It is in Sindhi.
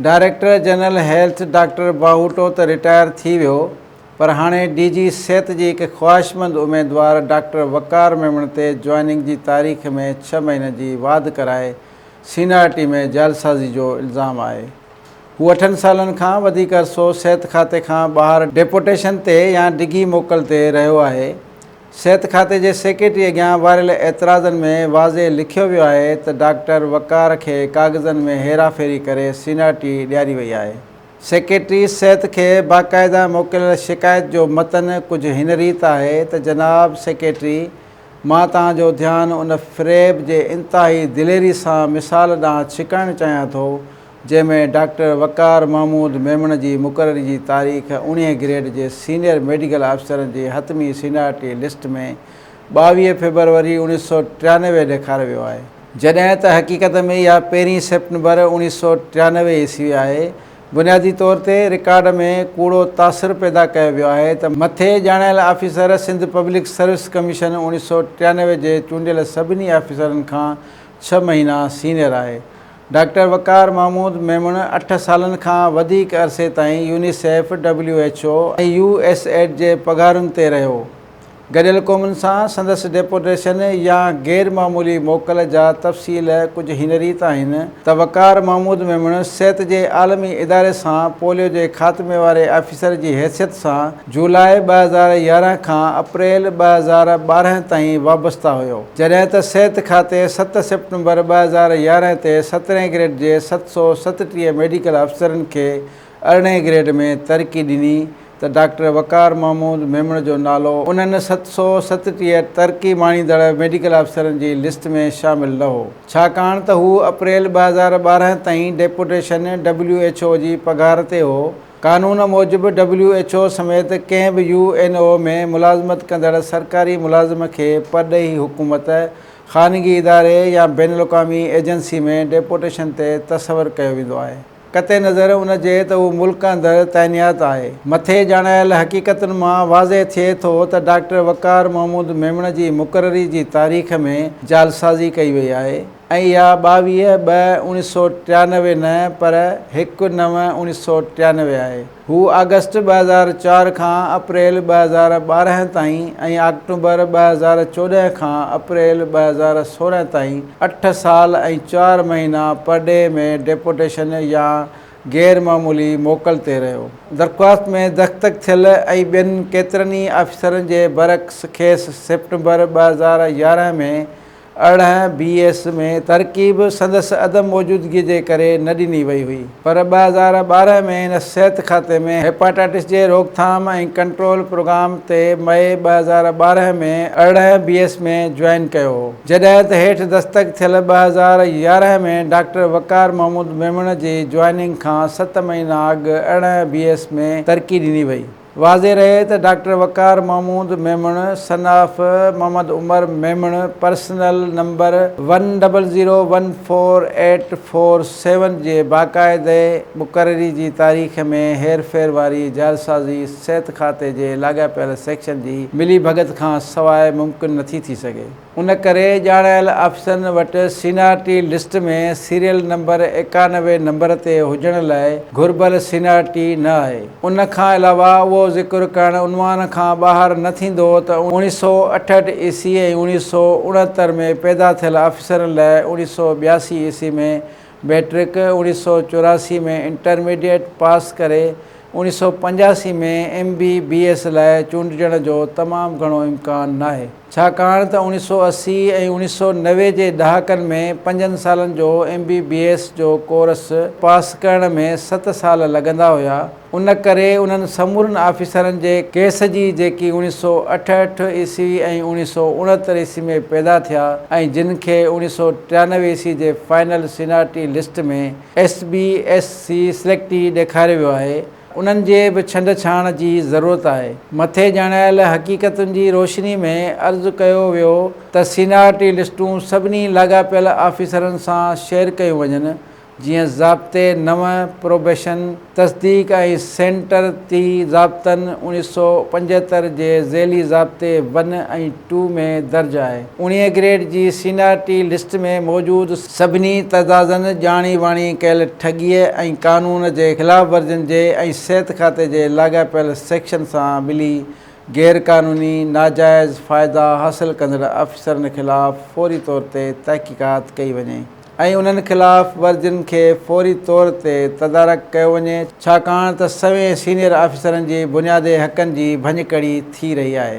Director general health doctor Bahoto ته رٽائر ٿي ويو پر هاڻي ڊي جي صحت جي هڪ خواهشمند اميدوار ڊاڪٽر وقار ميمڻ تي جوائننگ جي تاريخ ۾ ڇهه مهينن جي واڌ ڪرائي سينئارٽي ۾ جعلسازي جو الزام آهي هو اٺن سالن کان وڌيڪ عرصو صحت کاتي کان ٻاهر ڊيپوٽيشن تي يا ڊگهي موڪل تي رهيو آهي صحت کاتي جي سيڪريٽري اڳيان واريل اعتراضن ۾ واضح لکيو ويو آهي ته ڊاڪٽر وقار کي ڪاغذن ۾ هيرا ڦيري ڪري سينارٽي ڏياري وئي آهي. سيڪريٽري صحت کي باقاعده موڪليل شڪايت جو متن ڪجهه هن ريت آهي ته جناب سيڪريٽري مان توهان جو ڌيان ان فريب جي انتهائي دليري سان مثال ڏانهن ڇڪائڻ چاهيان ٿو جنهن ۾ ڊاڪٽر وقار محمود ميمڻ جي مقرري جي تاريخ اڻيهه گريڊ جي سينيئر ميڊيڪل آفيسرن جي حتمي سينيارٽي لسٽ ۾ ٻاويهه فيبروري اوڻيهه سؤ ٽيانوي ڏيکاريو ويو آهي، جڏهن ته حقيقت ۾ اها پهرين سيپٽمبر اوڻيهه سؤ ٽيانوي عيسوي آهي، بنيادي طور تي رڪارڊ ۾ ڪوڙو تاثر پيدا ڪيو ويو آهي ته مٿي ڄاڻايل officer Sindh public service commission اوڻيهه سؤ ٽيانوي جي چونڊيل سڀني آفيسرن کان ڇهه مهينا سينيئر آهي. ڊاڪٽر وقار محمود ميمڻ اٺ سالن کان وڌيڪ عرصي تائين UNICEF, W H O ۽ U S aid جي پگهارن تي رهيو. گڏيل قومن سان سندس ڊيپوٽيشن يا غير معمولي موڪل جا تفصيل ڪجهه هن ريت آهن ته وقار محمود ميمڻ صحت جي عالمي اداري سان پوليو جي خاتمي واري آفيسر جي حيثيت سان جولاء ٻه هزار يارهن کان اپريل ٻه هزار ٻارهن تائين وابسته هيو، جڏهن ته صحت کاتي ست سيپٽمبر ٻه هزار يارهن تي سترهين گريڊ جي ست سؤ ستٽيهه ميڊيڪل افسرن کي ارڙهين گريڊ ۾ ترقي ڏني ته ڊاڪٽر وقار محمود ميمڻ جو نالو انهن ست سؤ ستٽيهه ترقي ماڻيندڙ ميڊيڪل افسرن جي لسٽ ۾ شامل نه هو، ڇاڪاڻ ته هو اپريل ٻه هزار ٻارهن تائين ڊيپوٽيشن ڊبليو ايڇ او جي پگهار تي هو قانون موجب ڊبليو ايڇ او سميت ڪنهن به يو اين او ۾ ملازمت ڪندڙ سرڪاري ملازم کي پرڏيهي حڪومت، خانگي اداري يا بين الاقوامي ايجنسي ۾ ڊيپوٽيشن تي تصور ڪيو ويندو آهي. قطع نظر ان جي ته هو ملڪ اندر تعينيات آهي. مٿي ڄاڻايل حقيقتن مان واضح ٿئي ٿو ته ڊاڪٽر وقار محمود ميمڻ جي مقرري جي تاريخ ۾ جعلسازي ڪئي وئي آهي. ۽ يا ٻاويهه ٻه اوڻيھ سؤ ٽيانوي نه پر هڪ نو اوڻيھ سؤ ٽيانوي آهي. هو آگسٽ ٻه هزار چار کان اپريل ٻه هزار ٻارهن تائين ۽ آڪٽوبر ٻه هزار چوڏهن کان اپريل ٻه هزار سورهن تائين اٺ سال ۽ چار مهينا پرڏيهه ۾ ڊيپوٽيشن يا غير معمولي موڪل تي رهيو. درخواست ۾ دستخط ٿيل ۽ ٻين ڪيترن ئي آفيسرن جي برعڪس کيس سيپٽمبر ٻه هزار يارهن ۾ ارڙهن بي ايس ۾ ترقي به سندس عدم موجودگي جي ڪري نه ڏني وئي هئي پر ٻه هزار ٻارهن ۾ هن صحت کاتي ۾ هيپاٽائٽس جي روڪٿام ۽ ڪنٽرول پروگرام تي مئي ٻه هزار ٻارهن ۾ ارڙهن بي ايس ۾ جوائن ڪيو هو جڏهن ته هيٺ دستخط ٿيل ٻه هزار يارهن ۾ ڊاڪٽر وقار محمود ميمڻ جي جوائننگ کان ست مهينا اڳ ارڙهن بي ايس ۾ ترقي ڏني وئي. واضح رهي ته doctor Waqar Mahmood Memon son of Muhammad Umar Memon personal number one double zero one four eight four seven جي باقاعدي مقرري جي تاريخ ۾ هير ڦير واري جعلسازي صحت کاتي جي لاڳاپيل سيڪشن جي ملي ڀڳت کان سواء ممڪن نٿي ٿي سگهي. ان ڪري ڄاڻايل آفيسرن وٽ سينارٽي لسٽ ۾ سيريل نمبر ايڪانوي نمبر تي هجڻ لاء گهربل سينارٽي نه آهي. ان کان علاوه اهو ذڪر ڪرڻ عنوان کان ٻاهر نه ٿيندو ته اوڻيھ سؤ اٺهٺ عيسوي ۽ اوڻيھ سؤ اڻهتر ۾ پيدا ٿيل آفيسرن لاء اوڻيھ سؤ ٻياسي عيسوي ۾ ميٽرڪ اوڻيھ سؤ چوراسي ۾ انٽرميڊيٽ پاس ڪري اوڻيھ سؤ پنجاسي ۾ ايم بي بي ايس لاء چونڊجڻ جو تمام گهڻو امڪان ناهي ڇاڪاڻ ته اوڻيھ سؤ اسي ۽ اوڻيھ سؤ نوي جي ڏهاڪن ۾ پنجن سالن جو ايم بي بي ايس جو ڪورس پاس ڪرڻ ۾ ست سال لڳندا هيا. ان ڪري انهن سمورن آفيسرن جي ڪيس جي جيڪي اوڻيھ سؤ اٺهٺ عيسوي ۽ اوڻيھ سؤ اڻهتر عيسوي ۾ پيدا ٿيا ۽ جن کي اوڻيھ سؤ ٽيانوي عيسوي جي final seniority list ۾ S B S C selectee ڏيکاريو ويو آهي انهن جي به ڇنڊ ڇاڻ جي ضرورت آهي. مٿي ڄاڻايل حقيقتن جي روشني ۾ عرض ڪيو ويو ته سينارٽي لسٽون سڀني لاڳاپيل آفيسرن سان شيئر ڪيون وڃن جيئن ضابطي نون پروبيشن تصديق ۽ سينٽر تي ضابطن اوڻيھ سؤ پنجهتر جي ذيلي ضابطي ون ۽ ٽو ۾ درج آهي. اوڻيھ گريڊ جي سينيارٽي لسٽ ۾ موجود سڀني تضادن، ڄاڻي واڻي ڪيل ٺڳيء ۽ قانون جي خلاف ورزين جي ۽ صحت کاتي جي لاڳاپيل سيڪشن سان ملي غير قانوني، ناجائز، فائدا حاصل ڪندڙ آفيسرن خلاف فوري طور تي تحقيقات ڪئي وڃي. ۽ انهن خلاف ورزين کي فوري طور تي تدارڪ ڪيو وڃي، ڇاڪاڻ ته سوين سينيئر آفيسرن جي بنيادي حقن جي ڀڃڪڙي ٿي رهي آهي.